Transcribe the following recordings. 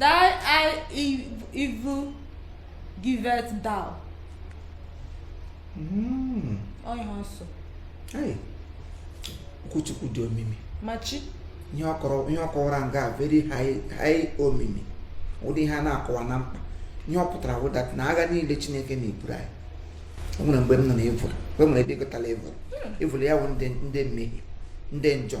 Thy eye evil giveth thou. Mm. Onye nsọ. Okwu Chukwu dị omimi. Machi. Ihe ọ kọwara nga very high omimi. Ụdị ihe a na-akọwa na mkpa. Ihe ọ pụtara wụ that na agha niile Chineke na-eburu anyị. O nwere mgbe m nọ na evil. Mgbe m nwere ebe ịgụtala evil. Evil ya wụ ndị mmehie, ndị njọ.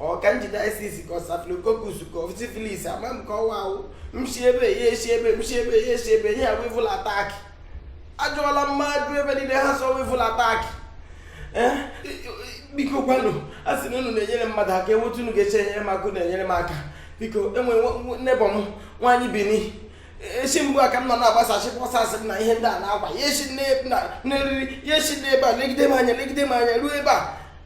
ọ candidiasis ka ọ staphylococcus ka ọ syphilis ama m ka ọwa awụ m shi ebe ya eshi ebe m shi ebe ya eshi ebe ihe a wụ evil attack ajụọla mmadụ ebe niile ha sị ọ wụ evil attack eh, biko kwanụ a sị na unu na-enyere mmadụ aka enwe etu unu ga-eshi enyere m aka unu enyere m aka biko enwe neighbour m nwaanyị Bini eshi mgbe a ka m nọ na-agbasachi bọsasị m na ihe ndị a na-akwa ya eshi n'eriri ya eshi n'ebe a legide m anya legide m anya ruo ebe a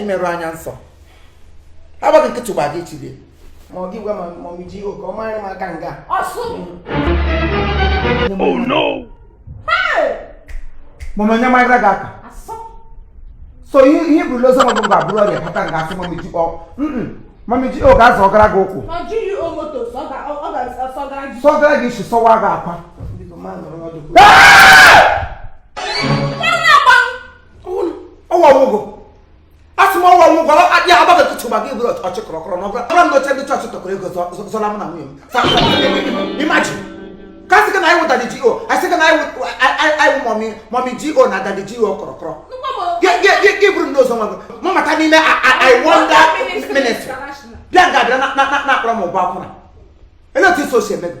imerụ anya nsọ agbaghị nkịtị gba gị chiri ma ọ gị gwa ma ọ ji oke ọ mara m aka nga Oh no! Mama nya mai raga ka. So you you bu lozo mo ba bro re pata nga se mami ji o. Mm. Mami ji o ga zo gara go ku. Ma ji you o moto so ga o ga so gara ji. So gara ji so wa ga apa. Bi ko ma no ro do. ọwa nwụgo asị m ọwa nwụgo ya agbada tụtụ maka iburu ọchị kọrọkọrọ na ọbụla ọbụla n'oche ndị chọọchị tụkọrọ ego zụọra m na nwunye m imagine ka a sị gị na anyị wụ daddy G.O. asị gị na anyị wụ mommy G.O. na daddy G.O. kọrọkọrọ gị bụrụ n'ụzọ nwa gị mụ mata n'ime i wonder ministry bịa nga bịa na-akpọrọ m ụgbọ akwụna ele otu isi o si eme gị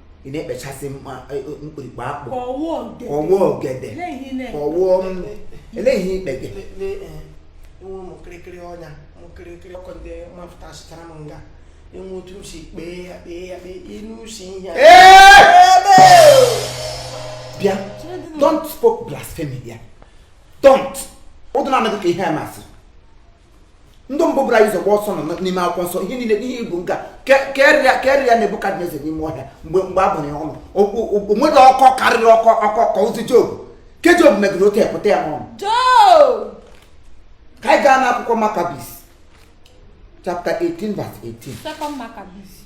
ị na-ekpechasị e, e, mkpirikpe akpụ ka ọ wụ ogede ka ọ wụ ele ihe ikpe gị enwe ụmụ kịrịkịrị ọnya ụmụ kịrịkịrị ọkụ ndị mafụtasịchara m nga enwe otu m si kpee ya kpee ya kpee inu si ihe bịa don't spoke blasphemy here don't ụdụ na-anaghị ka ihe a masịrị ndị mbụ buru anyị ụzọ gbaa ọsọ nọ n'ime akwụkwọ nsọ ihe niile ihe ibu nka karịa Nebukadneza n'ime ọhịa mgbe a bụrụ ya ọnụ o nweghị ọkọ karịrị ọkọ ọkọ ka ozi Job ke Job megide otu epụta ya n'ọnụ ka anyị gaa n'akwụkwọ Maccabees chapter 18 verse 18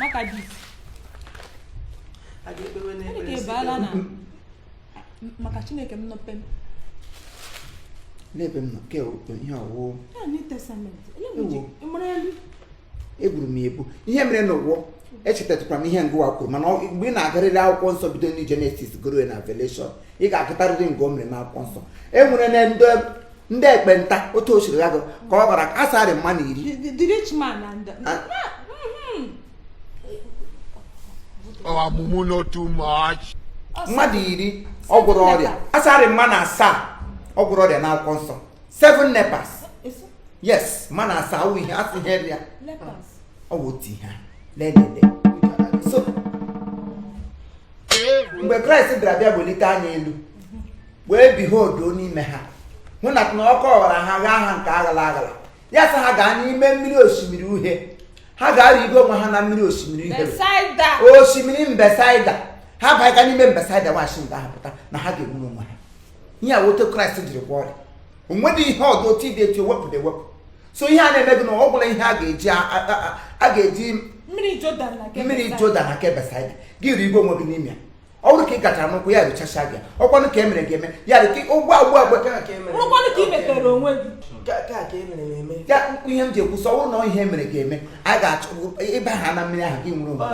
Maccabees Chineke baala na maka Chineke m nọpe m n'ebe m nọ ke ihe ọwụwụ egburu m egbu ihe mere na ụgwọ echetakwara m ihe ngawa kwuru mana mgbe ị na-agarịrị akwụkwọ nsọ bido na Genesis garuo na Revelation ị ga-agụtarịrị nga o mere n'akwụkwọ nsọ e nwere na ndị ndị ekpenta otu o siri ya gụ ka ọ gwara a sarị mmadụ iri The, the rich man and the, Ah. Mhm. ọmụmụ no too much Ọ sị- mmadụ iri ọ gwọrọ ọrịa a sarị mmadụ asaa ọ gwọrọ ọrịa n'akwụkwọ nsọ seven lepers Eso- yes mmadụ asaa wụ ihe asị ihe ya lepers. ọ wụ otu ihe a. lelele so mgbe kraịst bịara bịa welite anya elu wee behold n'ime ha hụ na na ọkụ ọghara ha ghaa ha nke aghala aghala ya sị ha gaa n'ime mmiri osimiri uhie ha ga-arịgo onwe ha na mmiri osimiri uhie Besaida. osimiri Besaida ha baga n'ime Besaida nwachi nke ahụ pụta na ha ga-enwe onwe ha ihe a wụ etu kraịst jiri gwọọ ọrịa o nwedị ihe ọdọ otu ịdị etu ewepụ na ewepụ so ihe a na-eme gị na ọ bụla ihe a ga-eji a- a- a- a ga-eji Mmiri Jọdan na nke mmiri Besaida. Jọdan na nke besaida gị rigo onwe gị n'ime ya ọ bụrụ ka ị gachara n'ụkwụ ya rechasịa gị ọ kwanụ ka e mere gị eme ya dị ka ụgbọ agwụ agwụ rụkwanụ ka ị metere onwe gị ya mkpụ ihe m ji ekwu sị ọ bụrụ na ihe mere gị eme a ga-achọ ịbaha na mmiri ahụ gị nwere onwe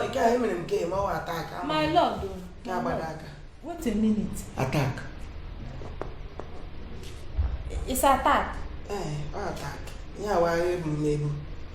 attack it's attack ee ọ attack ihe awaghị ebu m n'ebu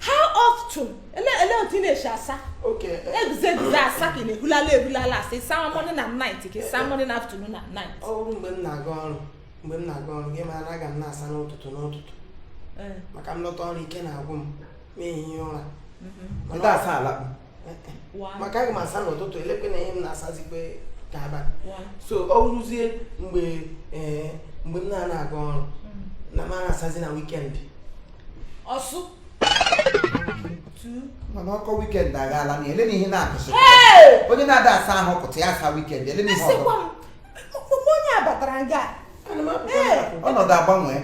how often ele ele otu ị na-esi asa Okay. eh, eguze eguze asa ka ị na-ehulala ehulala asa ịsa morning na night ka ịsa morning afternoon na night ọ bụrụ mgbe m na-aga ọrụ mgbe m na-aga ọrụ gị mara aga m na-asa n'ụtụtụ n'ụtụtụ Eh, maka m lọta ọrụ ike na-agwụ m m ehie ụra mhm. Ndị asa alakpu. maka aga m asa n'ụtụtụ elekwe na ihe m na-asazikwe ka abalị so ọ wụrụzie mgbe eh, mgbe m na-ana aga ọrụ mm. na m na-asazi na weekend ọsụ mana ọkọ weekend agaala na ele na ihe na-akụsị onye na-ada asa ahụ pụta ya asa weekend ele na ihe ọzọ onye abatara nga ọnọdụ agbanwe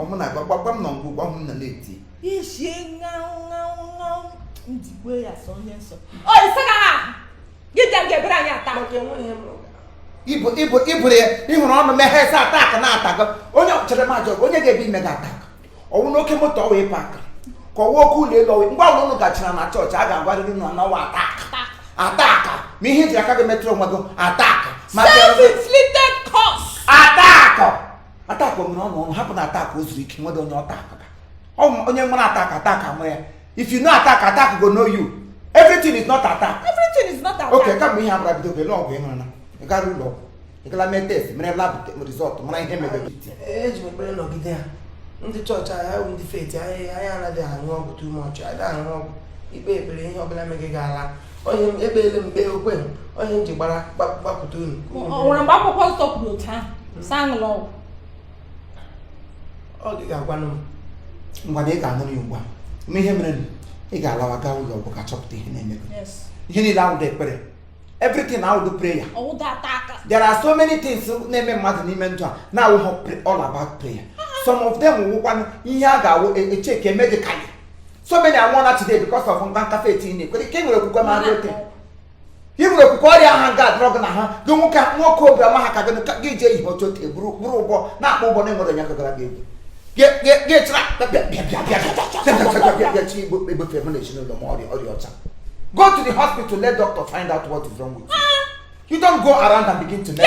ọmụ na-agba gbagba m nọ ngwa gwa m na na-eti ishie ṅaụ ṅaụ ṅaụ njikwa ya sọ onye nsọ ọ ise ka ha gị bịa nke ebere anyị ata maka enweghị m ụga ibu ibu iburu ya ị hụrụ ọnụ meghee sị attack na-atago onye chere ma jọrọ onye ga-ebi ime gị attack ọ wụ n'oke moto ọ wụ ịpa aka ka ọ wụ oke ụlọ elu ọ wụ nga ọwụla unu gachara na chọọchị a ga-agwarịrị unu na ọ wụ attack attack ma ihe i ji aka gị metara onwe gị attack ma self-inflicted curse attack attack mere unu unu hapụnụ attack o zuru ike nwedị onye ọta akụka onye mara attack attack ama ya if you know attack attack go know you everything is not attack everything is not attack okay kama ihe abụra bido ele ọgwụ ị ṅụrụ na ị gara ụlọ ọgwụ ị gara mee test mere lab result mara ihe mere eji m ekpere nọgide ya ndị chọọchị anyị ndị faith anyị anaghị aṅụ ọgwụ too much anyị aṅụ ọgwụ ikpe ekpere ihe ọbụla megị gị ala onye m ekpeele m kpee okwe m onye m ji gbara gbapụta unu o nwere mgbe akwụkwọ nsọ kwuru otu ahụ hmm. sị aṅụla ọgwụ ọ gị ga-agwanụ m ngwa na ị ga-anụ ya ugbu a ma ihe mere ị ga-alawa gaa ụlọ ọgwụ ka a chọpụta ihe na-eme ihe niile awụdụ ekpere everything awụdụ prayer there are so many things na-eme mmadụ n'ime ndụ a na-awụghọ all about prayer some of them wụkwanụ ihe a ga-awụ echeke e, e medically so many anwụọla today because of mba nkafe eti na ekwere ka e nwere okwukwe ma otu i nwere okwukwe ọrịa ha ga-adọrọ gị na ha gị nwoke nwoke obi ọma ha ka gị ka gị jee ihe otu otu eburu bụrụ ụgbọ na-akpọ ụgbọ na-enwere onye gagara gị egwu gị igbo egbefe m na ezinụlọ m ọrịa ọrịa ọcha go to the hospital let doctor find out what is wrong with you you don't go around and begin to make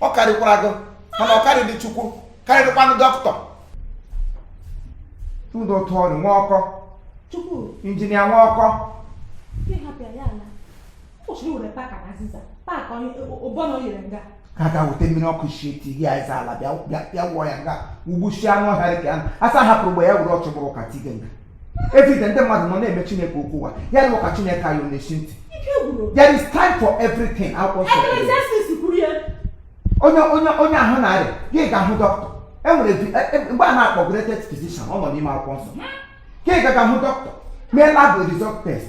ọ karịkwara gị mana ọ karịdị chukwu karịdịkwanụ dọkịta tụdụ otu ọrịa nwa ọkọ chukwu injinia nwa ọkọ aga weta mmiri ọkụ sie ti gị aịza ala bịa wụọ ya nga ugbu si anụ ọhịa dị ka ya asa hapụrụ mgbe ya were ọchụ bụrụ ka tige nga everyday ndị mmadụ nọ na-eme chineke okwu ụwa ya na ụka chineke anyị ọ na-eshi ntị there is time for everything akwụkwọ nsọ kwuru. Ecclesiastes kwuru ya onye onye onye ahụ na-arịa ya gaa hụ dọkịta e nwere vi- e- e- mgbe a na-akpọ greatest physician ọ nọ n'ime akwụkwọ nsọ ka ị gaa hụ dọkịta mee lab result test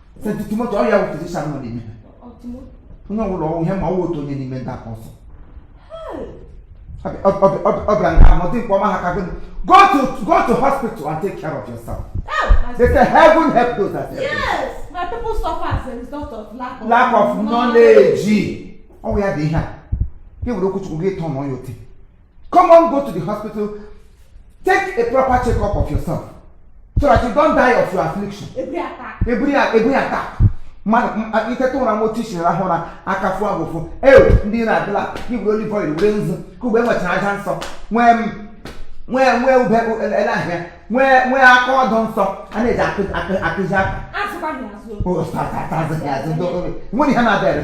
Timoti ọ ya bụ physician nọ n'ime onye ọbụla ọ wụ ihe ma ọ wụ otu onye n'ime ndị apọsụ ọ bịara nga ahụ dịkwa ọma ha ka gị go to go to hospital and take care of yourself oh, they say heaven help those that help yes my people suffer as a result of lack of lack of knowledge ọ wụ ya dị ihe a gị were okwuchukwu gị tọọ na ọya ote Come on, go to the hospital. Take a proper checkup of yourself so that you don't die of your affliction. Every attack. Every, every attack. mmadụ i teta ụra ma otu i si rahụ ụra aka fụọ gị ụfụ ewe ndị na-adịla i were olive oil were nzu ka ugbe nwechara aja nsọ nwee nwee nwee ube ele ahịa nwee nwee aka ọdụ nsọ a na-eji akụzi aka nwere ihe na-abịa